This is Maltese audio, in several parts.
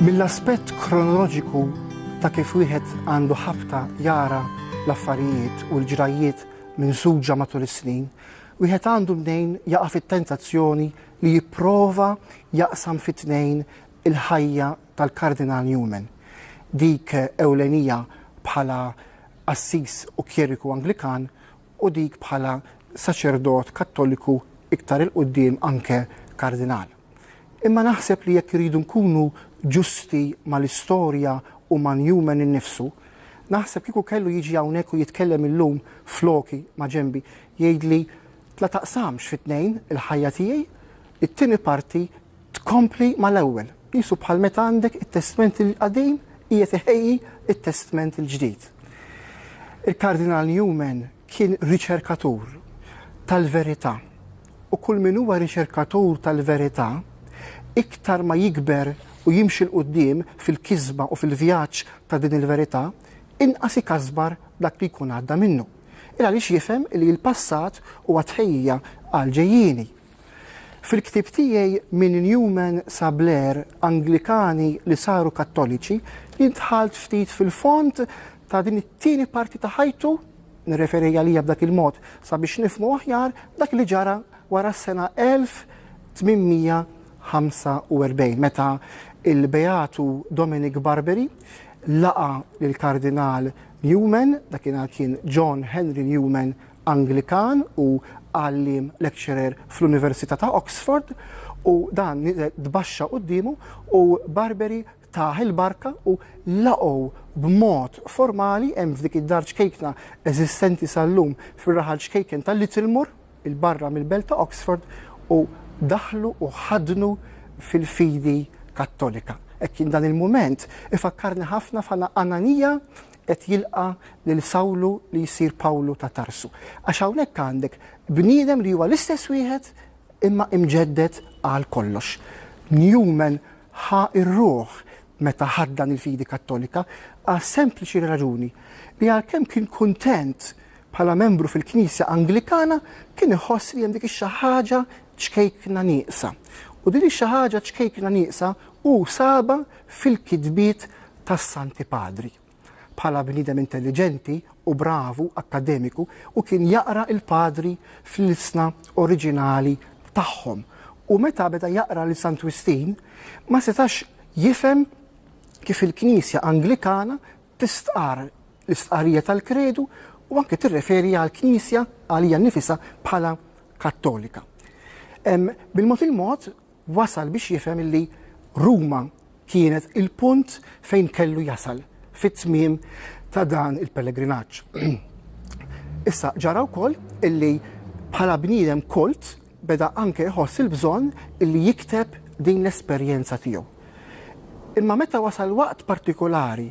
Mill-aspett kronoloġiku ta' kif wieħed għandu ħabta jara l-affarijiet u l-ġrajjiet minsuġa matul is-snin, wieħed għandu mnejn jaqa' fit-tentazzjoni li jipprova jaqsam fi tnejn il-ħajja tal-Kardinal Newman, dik ewlenija bħala qassis u kjeriku Anglikan u dik bħala saċerdot Kattoliku iktar 'il quddiem anke Kardinal. Imma naħseb li jekk irridu nkunu ġusti mal-istorja u ma' Newman innifsu, naħseb kieku kellu jiġi hawnhekk u jitkellem illum floki, ma' ġenbi, jgħidli, La taqsamx fi tnejn il-ħajja tiegħi, it-tieni parti tkompli mal-ewwel, qisu bħal meta għandek it-Testment il-Qadim qiegħed iħejji t-Testment il-Ġdid. Il-Kardinal Newman kien riċerkatur tal-verità u kull min huwa riċerkatur tal-verità iktar ma jikber u jimxi 'l quddiem fil-kisba u fil-vjaġġ ta' din il-verità, inqas ikasbar dak li jkun għadda minnu. Il-għaliex jifhem li l-passat huwa tħejjija għall-ġejjieni. Fil-ktieb tiegħi Minn Newman sa Blair, Anglikani li saru Kattoliċi, jien dħalt ftit fil-fond ta' din it-tieni parti ta' ħajtu, nirreferi għaliha b'dak il-mod sabiex nifhmu aħjar dak li ġara wara s-sena 1800 45 meta il-Beatu Dominic Barberi laqa l-Kardinal Newman, dakinhar kien John Henry Newman Anglikan u għalliem lecturer fl-Università ta' Oxford u dan tbaxxa quddiemu u Barberi tah il-barka u laqgħu b'mod formali hemm f'dik id-dar ċkejkna eżistenti sal-lum fir-raħal ċkejken ta' Littlemore il-barra mill-belt ta' Oxford u daħlu u ħadnu fil-fidi Kattolika. Hekk kien dan il-mument ifakkarni ħafna f'Ananija qed jilqa' lil Sawlu li jsir Pawlu ta' Tarsu. Għax hawnhekk għandek bniedem li huwa l-istess wieħed imma imġedded għal kollox. Newman ħa r-ruħ meta ħaddan il-fidi Kattolika għas-sempliċi raġuni li għalkemm kien kuntent bħala membru fil-Knisja Anglikana kien iħoss li hemm dik ix-xi ħaġa ċkejkna nieqsa. U din ix-xi ħaġa ċkejkna nieqsa hu saba fil-kitbiet tas-Santi Padri. Bħala bniedem intelliġenti u bravu akkademiku hu kien jaqra il-Padri fl-ilsna oriġinali tagħhom u meta beda jaqra lil Sant Wistin ma setax jifhem kif il-Knisja Anglikana tistqarr l-istqarrija tal-Kredu u anke tirreferi għall-Knisja għalija nnifisha bħala Kattolika. Bil-mod il-mod wasal biex jifhem illi Ruma kienet il-punt fejn kellu jasal fit-tmiem ta' dan il-pellegrinaġġ. Issa, ġara wkoll illi bħala bniedem kolt beda anke jħoss il-bżonn illi jikteb din l-esperjenza tiegħu. Imma meta wasal waqt partikolari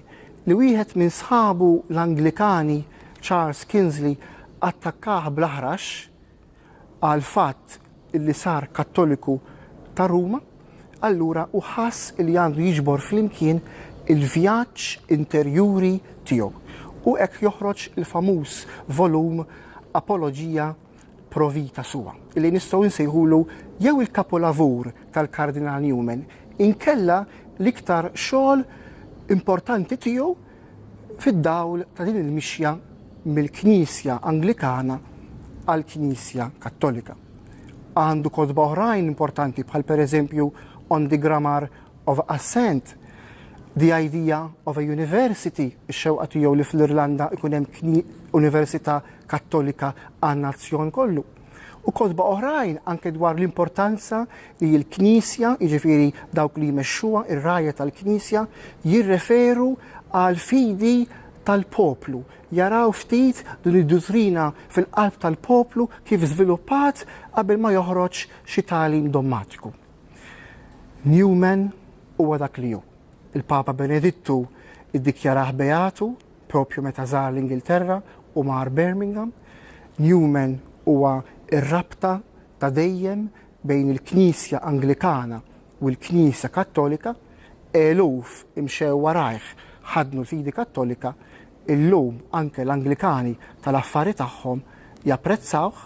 li wieħed minn sħabu l-Anglikani, Charles Kinsley, attakkah bl-aħrax, għall-fatt li sar Kattoliku ta' Ruma, allura hu ħass li għandu jiġbor flimkien il-vjaġġ interjuri tiegħu, u hekk joħroġ il-famuż volum Apologia pro vita sua, li nistgħu nsejħulu jew il-kapolavur tal-Kardinal Newman, inkella l-iktar xogħol importanti tiegħu, fid-dawl ta' din il-mixja mill-Knisja Anglikana għall-Knisja Kattolika. Għandu kotba oħrajn importanti bħal pereżempju On the Grammar of Assent, The Idea of a University, ix-xewqa tiegħu li fl-Irlanda jkun hemm università kattolika għan-nazzjon kollu. u kotba oħrajn anke dwar l-importanza li l-Knisja, jiġifieri dawk li jmexxuha, ir-rgħajja tal-Knisja, jirreferu għal fidi tal-poplu. Jaraw ftit din id-duttrina fil-qalb tal-poplu kif żviluppat qabel ma joħroġ xi tagħlim dommatiku. Newman huwa dak li hu. Il-Papa Benedittu iddikjarah beatu Propju meta żar l-Ingilterra u mar Birmingham, Newman huwa r-rabta ta' dejjem bejn il-Knisja Anglikana u l-Knisja Kattolika, eluf imxew warajh, ħaddnu l-fidi Kattolika, illum anke l-Anglikani tal-affari tagħhom japprezzawh,